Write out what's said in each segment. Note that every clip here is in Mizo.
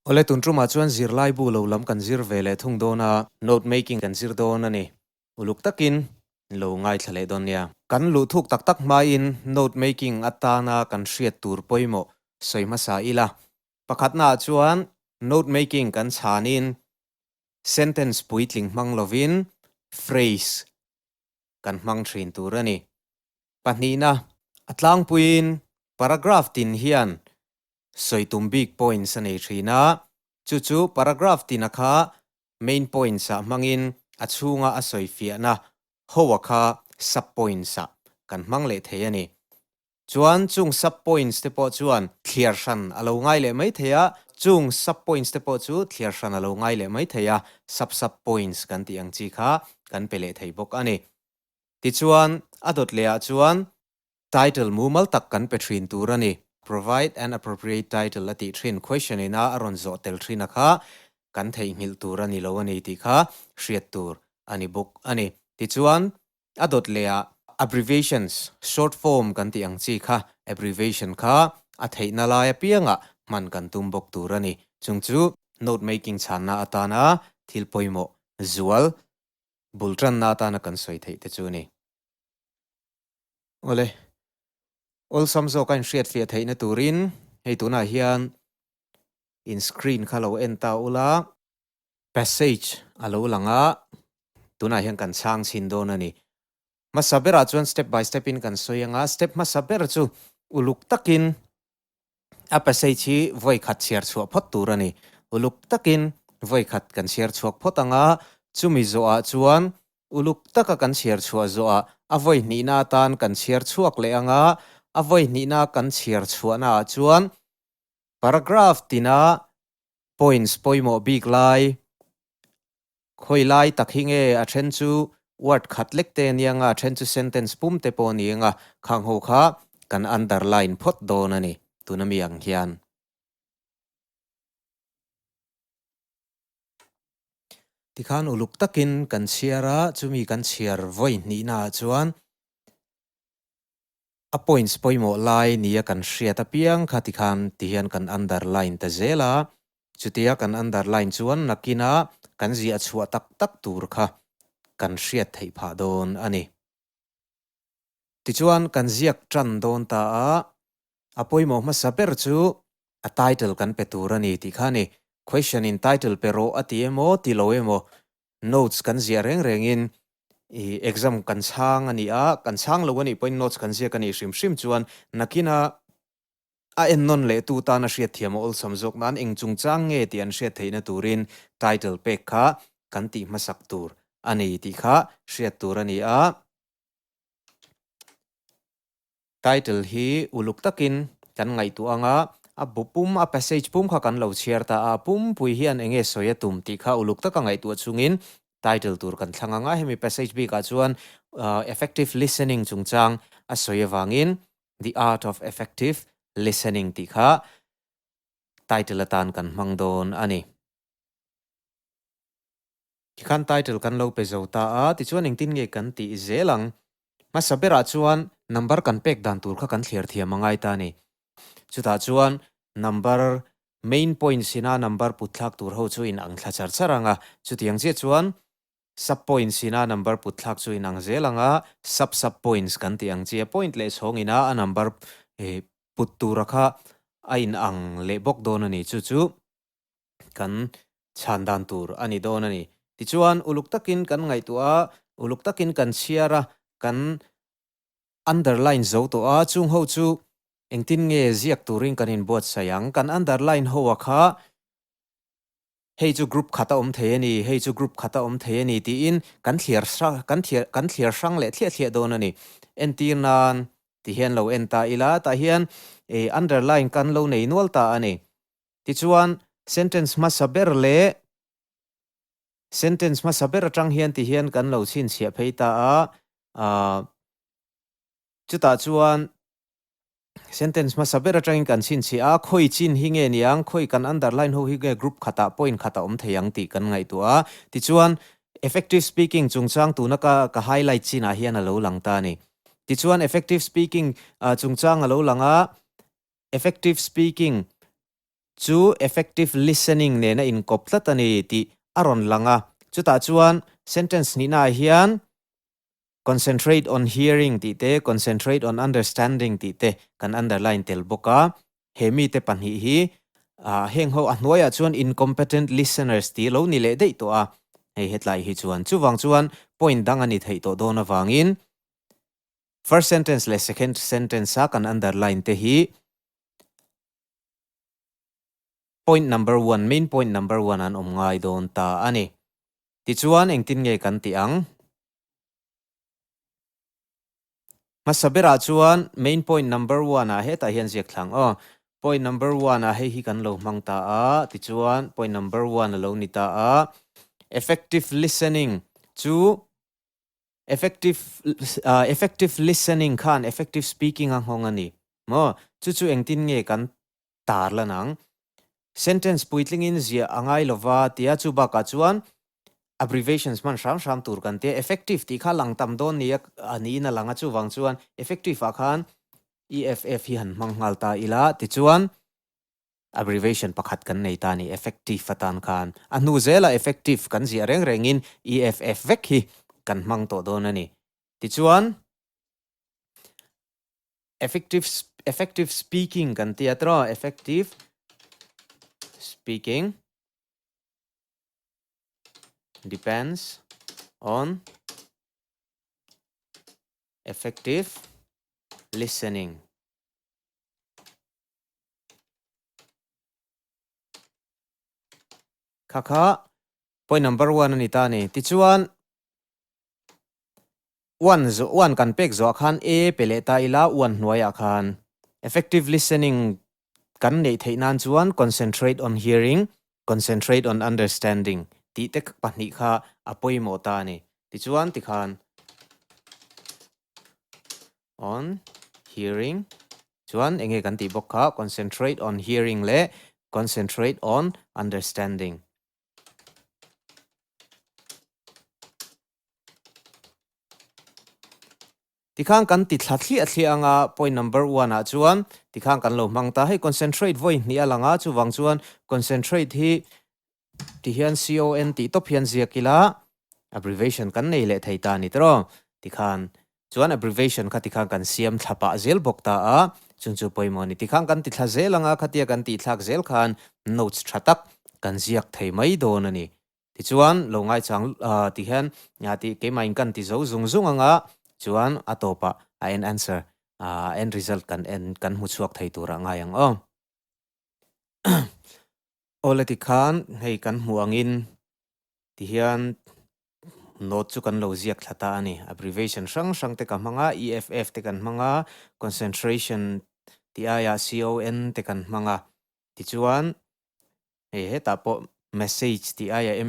Awle, tun tumah chuan zirlaibu lo lam kan zir ve leh thung dawn a, note making kan zir dawn a ni. Uluk takin in lo ngaithla leh dawn nia. Kan luhthuk tak tak hmain note making atana kan hriat tur pawimawh sawi hmasa ila. Pakhatnaah chuan note making kan chhanin sentence puitling hmang lovin phrase kan hmang thin tur a ni. Pahnihna, a tlangpuiin paragraph tin hian sawi tum bik points a nei thin a, chu chu paragraph tina kha main points ah hmangin a chhunga a sawi fiahna hoa kha sub points ah kan hmang leh thei a ni. Chuan chung sub points te pawh chuan thliar hran a lo ngai leh mai thei a, chung sub points te pawh chu thliar hran a lo ngai leh mai thei a, sub sub points kan tih ang chi kha kan pe leh thei bawk a ni. Tichuan a dawt leh ah chuan Title mumal tak kan pe thin tur a ni. Provide an appropriate title a tih thin question in a a rawn zawh tel thina kha kan theihnghilh tur a ni lo a ni tih kha hriat tur a ni bawk a ni. Tichuan, a dawt lehah, abbreviations, short form kan tih ang chi kha abbreviation kha a theihna lai apianga hman kan tum bawk tur a ni. Chung chu, note making chhanna atana thil pawimawh zual bul tanna atana kan sawi theih te chu a ni. Awle, awlsam zawk a inhriatfiah theihna turin hei tunah hian in screen kha lo en ta ula. Passage a lo lang a, tunah hian kan chhang chhin dawn a ni. Hmasa berah chuan step by step in kan sawi anga step hmasa ber chu uluk takin A passage hi vawikhat chhiar chhuah phawt tur a ni. Uluk takin vawikhat kan chhiar chhuak phawt ang a, chumi zawhah chuan uluk taka kan chhiar chhuah zawhah a vawihnihna atan kan chhiar chhuak leh ang a, a vawihnihna kan chhiar chhuahnaah chuan paragraph tina points pawimawh bik lai Khawi lai tak hi nge a then chu word khat lek te a ni anga a then chu sentence pum te pawh a ni anga khang ho kha kan underline phawt dawn a ni. Tuna mi ang hian tikhan uluk takin kan chhiar a, chumi kan chhiar vawi hnihnaah chuan A points pawimawh lai nia kan hriat apiang kha ti khan ti hian kan underline ta zel a, chutia kan underline chuan nakin a kan zia a chhuah tak tak tur kha kan hriat theih phah dawn a ni. Tichuan kan ziak tan dawn ta a, a pawimawh hmasa ber chu a title kan pe tur a ni tih kha a ni. Question in title pe rawh a ti emaw ti lo emaw notes kan ziah reng rengin i exam kan chhang a ni a, kan chhang lo a nih pawhin notes kan ziak a nih hrim hrim chuan nakina a en nawn lehtu tan a hriat thiam a awlsam zawk nan eng chungchang nge tih an hriat theihna turin title pek kha kan tih hmasak tur a ni tih kha hriat tur a ni a. Title hi uluk takin kan ngaihtuah anga a bu pum a passage pum kha kan lo chhiar ta a, a pumpui hian enge sawi a tum tih kha uluk taka ngaihtuah chungin title tur kan thlang anga hemi passage bikah chuan effective listening chungchang a sawi avangin The Art of Effective Listening tih kha title atan kan hmang dawn a ni. Khi khan title kan lo pe zo ta a, tichuan engtin nge kan tih i zel ang. Hmasa berah chuan number kan pek dan tur kha kan thliar thiam a ngai ta a ni. Chutah chuan number main points ina number put thlak tur ho chu inang thla char char ang a, chutiang chiah chuan sub points ina number put thlak chu inang zel ang a, sub sub points kan tih ang che, point leh chhawng ina a number put tura kha a inang leh bawk dawn a ni chu chu. kan chhan dan tur a ni dawn a ni. Tichuan, uluk takin kan ngaihtuah a, uluk takin kan chhiar a, kan underline zo tawh a, chung ho chu engtin nge ziak turin kan inbuatsaih ang? Kan underline ho a kha hei chu group khat a awm thei a ni, hei chu group khat a awm thei a ni tiin kan thliar kan thliar kan thliar hrang leh thliah thliah dawn a ni. Entir nan, ti hian lo en ta ila, tah hian underline kan lo nei nual ta a ni. Tichuan, sentence hmasa ber leh sentence hmasa ber atang hian ti hian kan lo chhinchhiah phei ta a. Aah chutah chuan sentence hmasa ber atangin kan chhinchhiah a, khawi chin hi nge ni ang, khawi kan underline ho hi nge group khatah, point khatah awm thei ang tih kan ngaihtuah a. Tichuan, effective speaking chungchang tuna ka ka highlight chinah hian a lo lang ta a ni. Tichuan, effective speaking chungchang a lo lang a, Effective speaking chu effective listening nena inkawp tlat a ni tih a rawn lang a. Chutah chuan sentence hnihnaah hian concentrate on hearing tih te concentrate on understanding tih te kan underline tel bawk a. He mite pahnih hi ah heng ho a hnuaiah chuan incompetent listeners tih lo ni leh daih tawh a, hei hetlai hi chuan. Chuvang chuan point dang a ni theih tawh dawn avangin First sentence leh second sentence a kan underline te hi point number one, main point number one an awm ngai dawn ta a ni. Tichuan engtin nge kan tih ang? Hmasa berah chuan main point number one ah hetah hian ziak thlang aw. Point number one ah hei hi kan lo hmang ta a, tichuan point number one a lo ni ta a. Effective listening chu Effective effective listening khan effective speaking a nghawng a ni maw? Chu chu engtin nge kan tar lan ang? Sentence puitlingin ziah a ngai lo va tia chu bakah chuan abbreviations hman hram hram tur kan tia. Effective tih kha lang tam dawn nia a niin a lang a, chuvang chuan effective ah khan eff hi han hmang nghal ta ila tichuan Abbreviation pakhat kan nei ta a ni, effective atan khan a hnu zela effective kan ziah reng rengin EFF vek hi kan hmang tawh dawn a ni. Tichuan, effective effective speaking kan ti a, tra effective speaking depends on effective listening. kha kha point number one ani ta ni tichuan one zo one kan pek zo khan a pe le ta ila one hnuai a khan effective listening kan nei thei nan chuan concentrate on hearing concentrate on understanding ti te pahnih kha a pawimawh ta ni tichuan tikhan on hearing chuan enge kan tih bawk kha concentrate on hearing leh concentrate on understanding. Tikhan kan ti thla thliah thliah anga point number one ah chuan tikhan kan lo hmang ta hei concentrate vawi hnih a lang a chuvang chuan concentrate hi Ti hian CON tih tawp hian ziak ila, abbreviation kan nei leh thei ta ni tiraw? ti khan. Chuan abbreviation kha ti khan kan siam thla pah zel bawk ta a, chung chu pawimawh a ni. Ti khan kan ti thla zel anga khatia kan tih thlak zel khan notes tha tak kan ziak thei mai dawn a ni. Tichuan, lo ngaichang ah ti hian ti keimah in kan ti zo zung zung anga chuan a tawpah a end answer, a end result kan en, kan hmu chhuak thei turah ngai ang aw. Aw la ti khan hei kan hmuh angin ti hian note chu kan lo ziak thla ta a ni. Abbreviation hrang hrang te ka hmang a, EFF te kan hmang a, concentration tih aia CON te kan hmang a. Tichuan hei hetah pawh message tih aia M.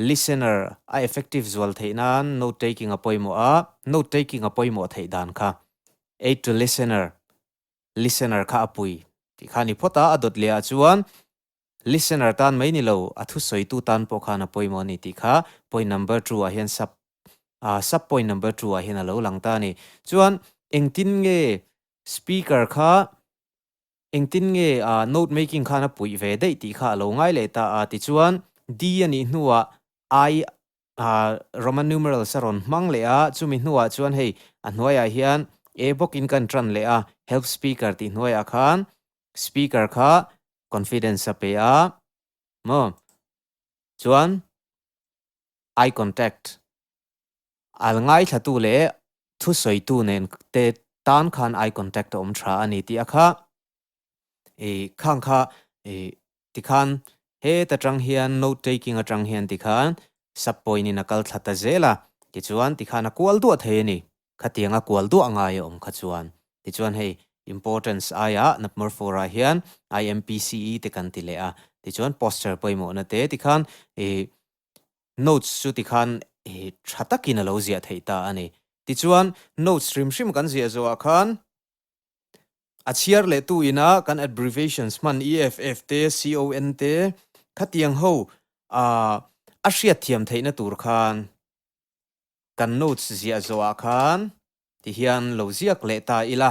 Listener a effective zual theih nan note taking a pawimawh a, note taking a pawimawh theih dan kha Aid to listener, listener kha a pui tih kha a ni phawt a, a dawt leh ah chuan Listener tan mai ni lo a thu sawitu tan pawh khan a pawimawh a ni tih kha point number two ah hian sub ah sub point number two ah hian a lo lang ta a ni. Chuan engtin nge speaker kha Engtin nge a note making khan a puih ve daih tih kha a lo ngai leh ta a, tichuan D a nih hnuah I a Roman numerals a rawn hmang leh a, chumi hnuah chuan hei a hnuaiah hian E bawkin kan tan leh a, help speaker tih hnuaiah khan speaker kha confidence a pe a maw, chuan eye contact Al ngaithlatu leh thu sawitu nen te tan khan eye contact a awm tha a ni tih a kha. I khang kha i tikhan heta tang hian note taking atang hian tikhan sub point in a kal thla ta zel a, tichuan tikhan a kual duah thei a ni. Khatiang a kual duah ngai a awm kha chuan. Tichuan hei importance aia Napmor four ah hian IMPCE te kan ti leh a, tichuan poster pawimawhna te tikhan i Notes chu tikhan hi tha takin a lo ziah theih ta a ni. Tichuan, notes hrim hrim kan ziah zawhah khan, a chhiar leh tu ina kan abbreviations hman EFF te, CON te, khatiang ho ah a hriatthiam theihna tur khan kan notes ziah zawhah khan tihian lo ziak leh ta ila.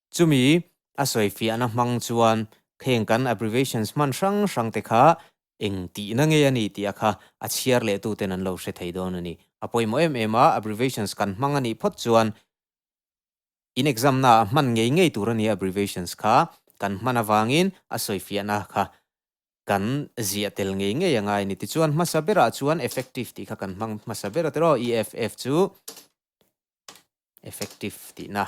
Chumi a sawi fiah na hmang chuan kheng kan abbreviations hman hrang hrang te kha eng tih na nge a ni tih a kha a chhiar leh tu ten an lo hre thei dawn a ni. A pawimawh em em a abbreviations kan hmang a nih phawt chuan in exam na ah hman ngei ngei tur a nia abbreviations kha kan hman a vangin a sawi fiah na kha kan ziah tel ngei ngei a ngai a ni. Tichuan hmasa ber ah chuan effective tih kha kan hmang hmasa ber a tiraw EFF chu effective tihna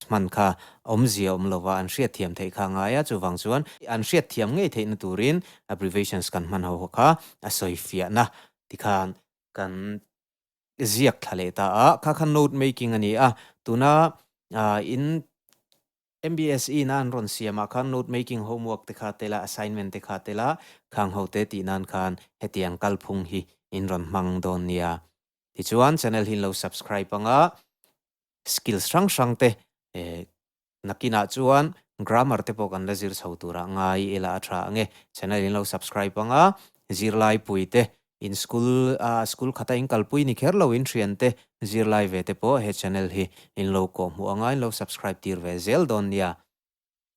hman kha awmzia awm lova an hriat thiam theih kha a ngai a, chuvang chuan an hriat thiam ngei theihna turin abbreviations kan hmanho kha a sawi fiahna ti khan kan ziak thla leh ta a, kha khan note making a ni a, tuna in MBSE na an rawn siam ah khan note making homework te kha tel a, assignment te kha tel a, khang ho te tih nan khan hetiang kalphung hi in rawn hmang dawn nia. Tichuan channel hi in lo subscribe ang a, skills hrang hrang te nakin ah chuan grammar te pawh kan la zir chho tur ah ngai ila a tha ang e. Channel in lo subscribe ang a, zirlai pui te In school a school khata in kalpui ni kher lo in thian te zirlai ve te pawh he channel hi in lo kawhhmuh anga in lo subscribe tir ve zel dawn nia.